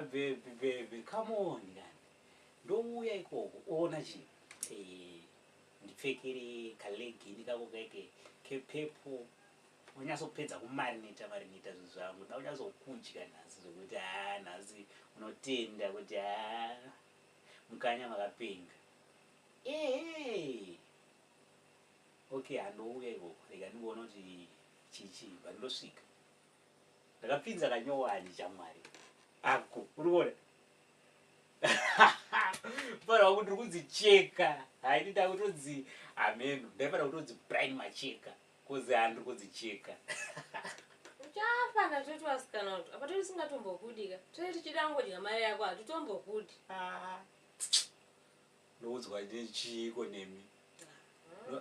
Babe babe come on kani ndouya ikoko oona chii Eh, ndipfekere kalegini kako keke kepepo unyatsopedza kumarineta marineta zvinhu zvangu nda unyatsokudya nhasi zvekuti haa nhasi unotenda kuti haa mukanya makapenga ehe okay handouya ikoko rega ndingoona kuti chichii but ndosvika ndakapinza kanyowani chamwari ako urikuona fanira kuti rikunzi cheka haidi ndakutonzi hameno ndaifanira kutonzi brian macheka kozi hani rikunzi cheka uchafa ndatoti vasikana kuti apa toti singatombokudika toti tichida ngodya mari yako hatitombokudi ah. ndoudzwa nechiiko nemi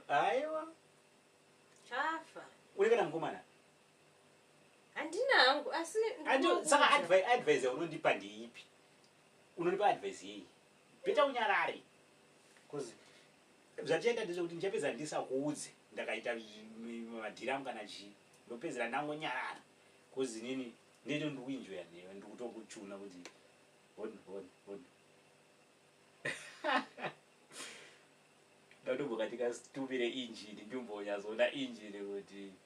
ah. aiwa chafa uri kana mukomana handina hangu asi saka advise yaunondipa ndeipi unondipa advise yei beta unyarare bcause zvatichaita ndezvekuti ndichapedza ndisakuudze ndakaita madhiramu kana chii ndopedzera ndangonyarara bcause nini ndito ndikuinjoya newe ndikutokuchuna kuti hon hon hon ndatobokatika stupire injini ndimbonyazoona injini kuti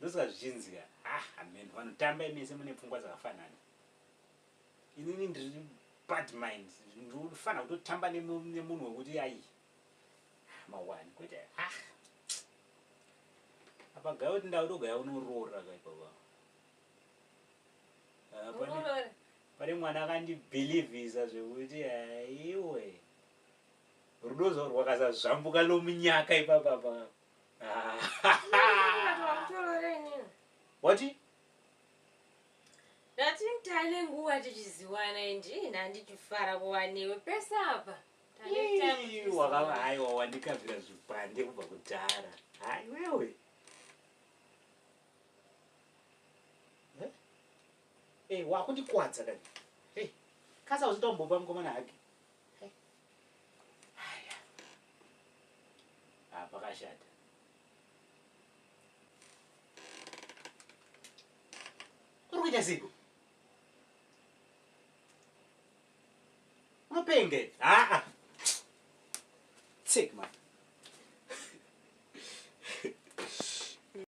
ndosaka zvichinzi ka ah hameno vanotamba imese mune pfungwa dzakafanana inini ndiri bad mind ndinofanira kutotamba nemunhu wekuti ayi mawani kwete ah apa gaya kuti ndautogaya unoroora kaipapa ah, pane mwana akandibhilivhisa zvekuti aiwe rudo zvo rwakasazvambuka lomunyaka ipapapa wati ndatitane nguva tichiziwana indi ndandichifara kuva newe pese apa wakava haiwa wandikavira zvipande kubva kudhara hai wewe eh, wakundikwadza kani kasa uzitombopa mukomana hake haya ah, pakashata uri kuita ziko unopenge aa ah, ah. tsik man